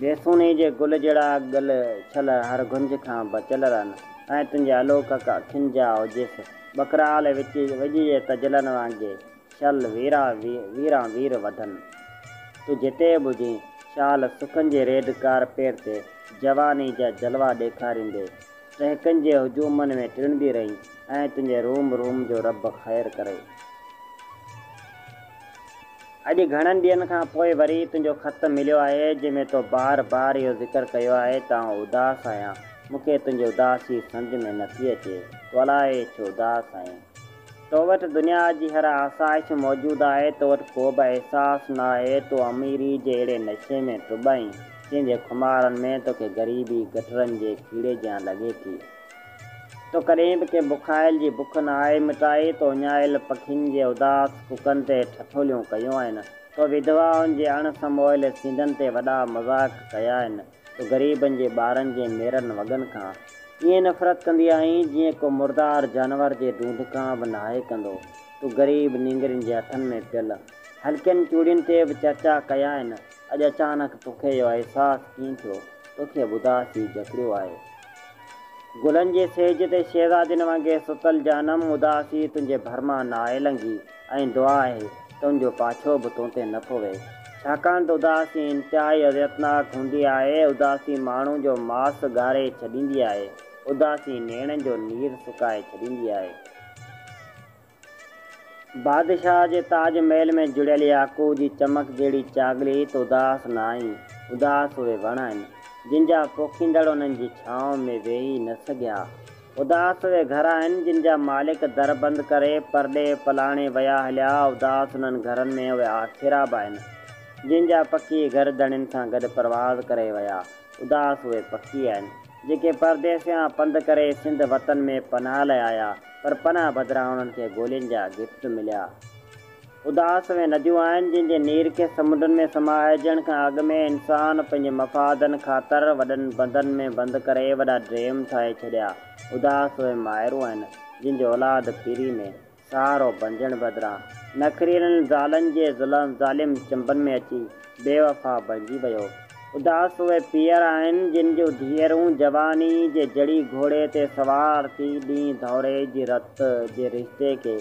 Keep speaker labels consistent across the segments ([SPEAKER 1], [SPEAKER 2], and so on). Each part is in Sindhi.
[SPEAKER 1] جيسوني جي گل جهڙا ڳل ڇل هر گهنج کان بچيل رهن ۽ تنهنجي الوڪڪ اکين جا اوجس ٻڪرال وڄ جي تجلن وانگي شل ويران وير وڌن. تون جتي به هجين، شال سکن جي ريڊ ڪارپيٽ تي جواني جا جلوا ڏيکاريندي، ٽهڪن جي هجومن ۾ ٽڙندي رهين ۽ تنهنجي روم روم جو رب خير ڪري. اڄ گهڻن ڏينهن کان پوء وري تنهنجو خط مليو آهي، جنهن ۾ تو بار بار اهو ذڪر ڪيو آهي ته آئون اداس آهيان. مون کي تنهنجي اداسي سمجهه ۾ نه ٿي اچي. تو الائي ڇو اداس آهين. تو وٽ دنيا جي هر آسائش موجود آهي، تو وٽ ڪو به احساس نه آهي، تون اميري جي اهڙي نشي ۾ ٽٻ آهين، جنهن جي خمارن ۾ توکي غريبي گٽرن جي کيڙي جيان لڳي ٿي. تو ڪڏهن به ڪنهن بکايل جي بک نه آهي مٽائي، تو اڃايل پکين جي اداس ڪڪن تي ٺٺوليون ڪيون آهن، تو وڌوائن جي اڻ سموئل سينڌن تي وڏا مذاق ڪيا آهن، تو غريبن جي ٻارن جي ميرن وڳن کان ائين نفرت ڪندي آهين، جيئن ڪو مردار جانور جي ڍونڍ کان به ناهي ڪندو، تو غريب نينگرين جي هٿن ۾ پيل هلڪين چوڙين تي به چرچا ڪيا آهن، اڄ اچانڪ توکي اهو احساس ڪيئن ٿيو؟ توکي به اداسي جڪڙيو آهي، گلن جي سيج تي شهزادين وانگي ستل جانم اداسي تنهنجي ڀر مان ناهي لنگهي ۽ دعا آهي ته ان جو پاڇو به تون تي نه پوي ڇاڪاڻ ته اداسي انتهائي اذيتناڪ هوندي آهي اداسي ماڻهو جو ماس ڳاري ڇڏيندي آهي اداسي نيڻن جو نير سڪائي ڇڏيندي آهي. بادشاهه جي تاج محل ۾ جڙيل ياقوت جي چمڪ جهڙي چاڳلي هت اداس نه آهي. اداس اهي وڻ آهن، جن جا پوکيندڙ انهن جي ڇانو ۾ ويهي نه سگهيا. اداس اهي گهر آهن، جن جا مالڪ در بند ڪري پرڏيهه پلاڻي ويا هليا. اداس انهن گهرن ۾ اهي آکيرا به آهن، جن جا پکي گهر ڌڻين سان گڏ پرواز ڪري ويا. اداس اهي پکي آهن، جيڪي پرديسيان پنڌ ڪري سنڌ وطن ۾ پناهه لاء آيا. پر پناهه بدران انهن کي گولين جا گفٽ مليا. اداس اهي نديون آهن جن جي نير کي سمنڊن ۾ سمائجڻ کان اڳ ۾ انسان پنهنجي مفادن خاطر وڏن بندن ۾ بند ڪري وڏا ڊيم ٺاهي ڇڏيا. اداس اهي مائرون آهن جن جو اولاد پيري ۾ سهارو بنجڻ بدران نخريلن زالن جي ظلم ظالم چنبن ۾ اچي بي وفا بڻجي ويو. اداس اهي پير آهن، جن جون ڌيئرون جواني جي جڙي گهوڙي تي سوار ٿي ڏينهن ڌوڙي جي رت جي رشتي کي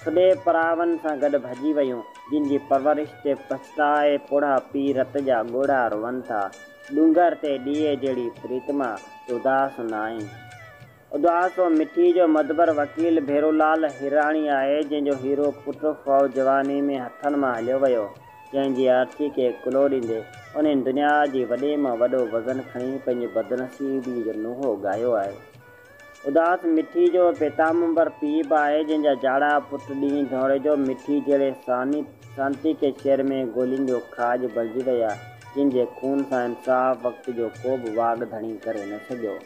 [SPEAKER 1] ٿڏي پراون سان گڏ ڀڄي ويون، جن جي پرورش تي پڇتائي پوڙها پي رت جا ڳوڙها روئن ٿا. ڏونگر تي ڏيئي جهڙي پريتما، تون اداس ناهين. اداس و مٺي جو مدبر وڪيل ڀيرولال هيراڻي آهي، جنهن جو هيرو پٽ فوء جواني ۾ هٿن مان هليو ويو، جنهن جي آرسي کي ڪلهو ڏيندي، انهن دنيا جي وڏي مان وڏو وزن کڻي پنهنجي بدنصيبي جو نوحو ڳايو آهي. اداس مٺي جو پيتامبر پيء به آهي، جنهن جا جاڙا پٽ ڏينهن ڌوڙي جو مٺي جهڙي سانتي کي شعر ۾ گولين جو کاڄ بڻجي ويا، جن جي خون سان انصاف وقت جو ڪوبه واڳ ڌڻي ڪري نه سگهيو.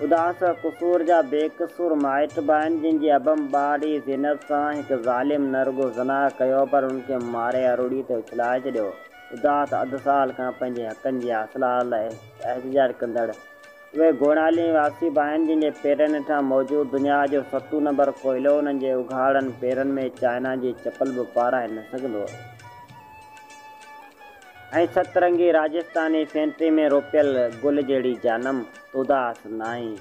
[SPEAKER 1] اداس قصور جا بي قصور مائٽ به آهن، جن جي ابهم ٻارڙي زينب سان هڪ ظالم نه رڳو زنا ڪيو پر ان کي ماري اروڙي تي اڇلائي ڇڏيو. اداس اڌ سال کان پنهنجي حقن جي حاصل لاء احتجاج ڪندڙ اهي گوڙالين واسي به آهن، جن جي پيرن هيٺان موجود دنيا جو ستون نمبر ڪوئلو انهن جي اگهاڙن پيرن ۾ چائنا جي چپل به پارائي نه سگهندو. ۽ ست رنگي راجستاني فينٽري ۾ روپيل گل جهڙي جانم توداس ناهين.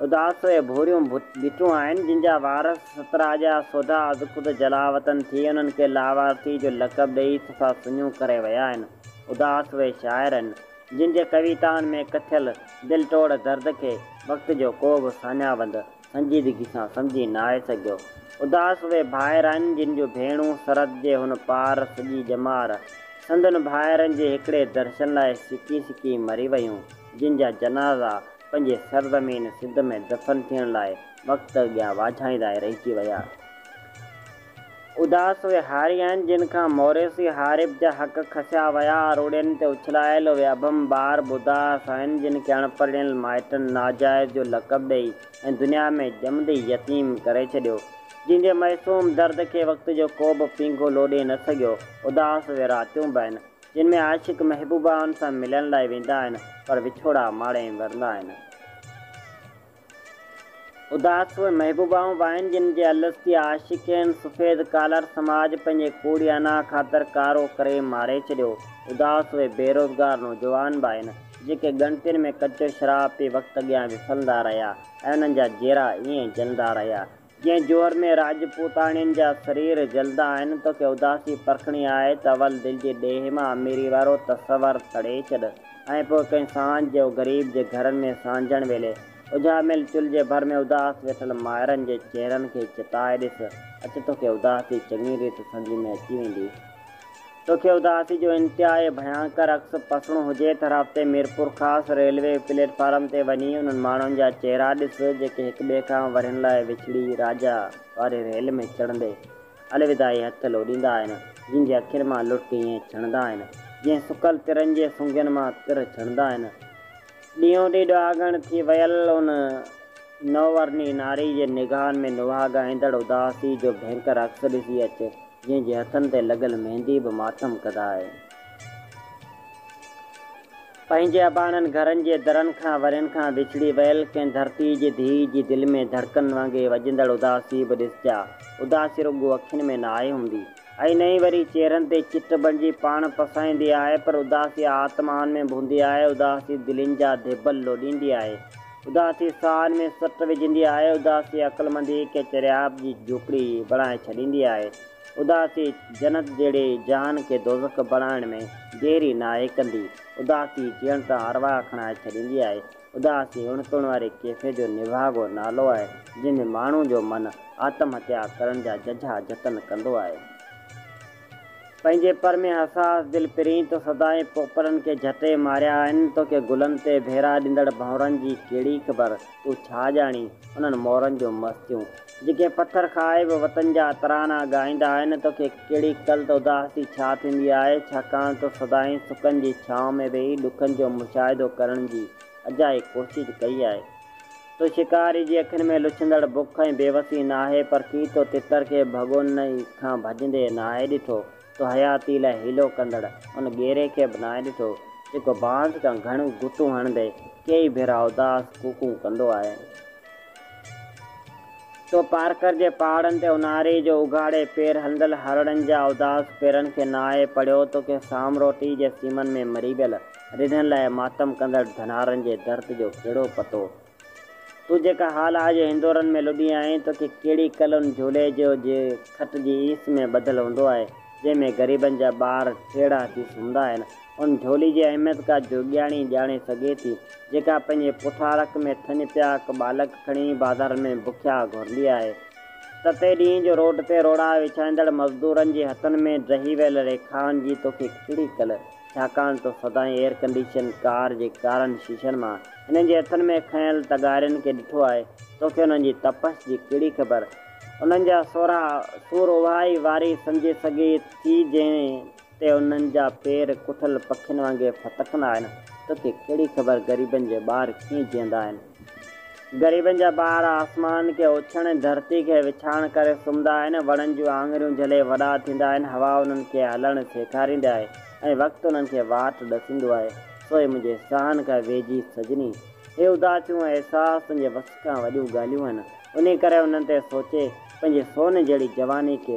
[SPEAKER 1] اداس اهي ڀوريون ڀٽون آهن، جن جا وارث سترا جا سوڍا ازخود جلاوطن ٿي انهن کي لاوارثي جو لقب ڏيئي صفا سڃون ڪري ويا آهن. اداس اهي شاعر آهن، جن جي ڪويتائن ۾ ڪٿيل دل ٽوڙ درد کي وقت جو ڪو به ساڃاهه وند سنجيدگي سان سمجهي ناهي سگهيو. اداس اهي ڀائر آهن جن جون ڀيڻون سرحد جي هن پار سڄي ڄمار سندن ڀائرن جي هڪڙي درشن لاء سڪي سڪي مري ويون جن جا جنازا پنهنجي سرزمين سنڌ ۾ دفن ٿيڻ لاء وقت اڳيان واجهائيندا ئي رهجي ويا. اداس اهي هاري آهن، جن کان موريثي هاريب جا حق کسيا ويا، روڙين تي اڇلايل اهي اڀم ٻار ٻڌا سائين، جن کي اڻپرڻيل مائٽن ناجائز جو لقب ڏئي ۽ دنيا ۾ ڄمندي ئي يتيم ڪري ڇڏيو، جن جي معصوم درد کي وقت جو ڪوبه پينگهو لوڏي نه سگهيو، اداس اهي راتيون به آهن، جن ۾ عاشق محبوبائن سان ملڻ لاء ويندا آهن، پر وڇوڙا ماڻي مرندا آهن. اداس اهي محبوبائون به آهن جن جي الستيا عاشقين سفيد ڪالر سماج پنهنجي ڪوڙي انا خاطر ڪارو ڪري ماري ڇڏيو. اداس اهي بيروزگار نوجوان به آهن جيڪي ڳڻتين ۾ ڪچو شراب پي وقت اڳيان وسلندا رهيا ۽ انهن جا جيرا ائين جلندا رهيا جنهن جوهر ۾ راجپوتاڻين جا سرير جلدا آهن، توکي اداسي پرکڻي آهي ته اول دل جي ڏيهه مان اميري وارو تصور سڙي ڇڏ ۽ پوء ڪنهن سانجهه جو غريب جي گهرن ۾ سانجهڻ ويلي اجهاميل چلهه جي ڀر ۾ اداس ويٺل مائرن جي چهرن کي چتائي ڏس، اچ توکي اداسي چڱي ريت سمجهه ۾ اچي ويندي. توکي اداسي جو انتهائي ڀيانڪر عڪس پسڻو هجي ته رابطي ميرپورخاص ريلوي پليٽ فارم تي وڃي انهن ماڻهن جا چهرا ڏس جيڪي هڪ ٻئي کان ورهين لاء وڇڙي راجا واري ريل ۾ چڙهندي الوداعي هٿ لوڏيندا آهن جن جي اکين مان لڙڪ ائين ڇڻندا آهن جئين سڪل ترن جي سنگين مان تر ڇڻندا آهن. ڏينهون ڏينهن ڏهاڳڻ ٿي ويل ان نوورني ناري جي نگاهن ۾ نوهاڳائيندڙ اداسي جو ڀينڪر عڪس ڏسي اچ، جنهن جي هٿن تي لڳل ميندي به ماتم ڪڌا آهي. پنهنجي اباڻن گهرن جي درن کان ورهين کان وڇڙي ويل ڪنهن ڌرتي جي ڌيء جي دل ۾ ڌڙڪن وانگي وڄندڙ اداسي به ڏسجي ها. اداسي رڳو اکين ۾ نه آهي هوندي، ائين نه ئي وري چهرن تي چٽ بڻجي پاڻ پسائيندي آهي، پر اداسي آتمائن ۾ ڀوندي آهي، اداسي دلين جا ڌيٻل لوڏيندي آهي، اداسي ساهن ۾ سٽ وجهندي آهي، اداسي عقلمنديء کي چريائپ جي جهوپڙي بڻائي ڇڏيندي آهي، اداسي جنت جهڙي جهان کي دوزخ بڻائڻ ۾ ديري ناهي ڪندي، اداسي جيئڻ تان ارواح کڻائي ڇڏيندي آهي، اداسي هن توڻ واري ڪيفيت جو نڀاڳو نالو آهي، جنهن ۾ ماڻهو جو من آتم هتيا ڪرڻ جا ججها جتن ڪندو آهي. پنهنجي پر ۾ حساس دل پرين تو سدائين پوپلن کي جهٽي ماريا آهن، توکي گلن تي ڀيرا ڏيندڙ ڀنورن جي ڪهڙي خبر، تون ڇا ڄاڻين انهن مورن جون مستيون، جيڪي پٿر کائي به وطن جا ترانا ڳائيندا آهن، توکي ڪهڙي قلت اداسي ڇا ٿيندي آهي، ڇاڪاڻ تو سدائين سڪن جي ڇانو ۾ ويهي ڏکن جو مشاهدو ڪرڻ جي اجائي ڪوشش ڪئي آهي. تو شڪاري جي اکين ۾ لڇندڙ بک ۽ بيوسي ناهي، پر ڪي تو تتر کي ڀڳونن ئي کان ڀڄندي ناهي ڏٺو، تو حياتي لاء حيلو ڪندڙ ان ڳيري کي به ناهي ڏٺو، جيڪو بانس کان گهڻيون گهتون هڻندي ڪيئي ڀيرا اداس ڪوڪون ڪندو آهي. سو پارڪر جي پهاڙن تي اونهاري جو اگهاڙي پير هلندل هرڻن جا اداس پيرن کي ناهي پڙهيو تو ڪنهن سام روٽي جي سيمن ۾ مري ويل رڍن لاء ماتم ڪندڙ ڌنارن جي درد جو ڪهڙو پتو؟ تون جيڪا حال آء جي هندورن ۾ لڏي آهين تو کي ڪهڙي ڪل ان جهولي جو جي کٽ جي ايس ۾ ٻڌل هوندو آهي جنهن ۾ غريبن جا ٻار ٽيڙا ٿي سمهندا آهن ان جھولي جي اهميت ڪا جوڳياڻي ئي ڄاڻي سگهي ٿي، جيڪا پنهنجي پوٺارڪ ۾ ٿڃ پيا هڪ ٻالڪ کڻي بازارن ۾ بکيا گهرندي آهي. تتي ڏينهن جو روڊ تي روڙا وڇائيندڙ مزدورن جي هٿن ۾ ڊهي ويل ريکائن جي توکي ڪھڙي ڪل، ڇاڪاڻ ته سدائين ايئر ڪنڊيشن ڪار جي ڪارن شيشن مان هنن جي هٿن ۾ کنيل تغارين کي ڏٺو آهي، توکي انهن جي تپش جي ڪھڙي خبر؟ انهن جا سورها سور اهائي واري سمجهي سگهي ٿي جنهن تي انهن جا پير ڪٺل پکين وانگي ڦٿڪندا آهن، توکي ڪهڙي خبر غريبن جي ٻار ڪيئن جيئندا آهن. غريبن جا ٻار آسمان کي اوڇڻ ۽ ڌرتي کي وڇاڻ ڪري سمهندا آهن، وڻن جون آڱريون جهلي وڏا ٿيندا آهن، هوا انهن کي هلڻ سيکاريندي آهي ۽ وقت انهن کي واٽ ڏسيندو آهي، سوئي منهنجي ساهن کان ويجهي سڄڻي. هي اداسيون ۽ احساس تنهنجي وس کان وڏيون ڳالهيون آهن، انهي ڪري انهن تي سوچي، پنهنجي سون جهڙي جواني کي